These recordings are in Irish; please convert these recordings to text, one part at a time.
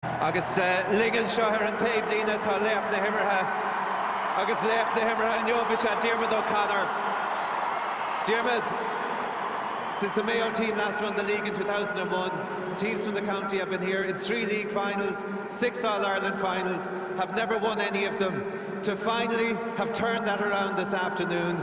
Agus linn anseo ar an taobhlíne tá laoch na himeartha agus laoch na himeartha inniu is ea Diarmuid O'Connor. Diarmuid, since the Mayo team last won the league in 2001, teams from the county have been here in three league finals, six All-Ireland finals, have never won any of them, to finally have turned that around this afternoon.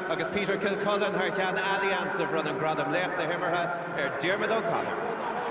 agus Peter Kilcullen thar cheann Allianz a bhronn an gradam Laoch na hImeartha ar Diarmuid O'Connor.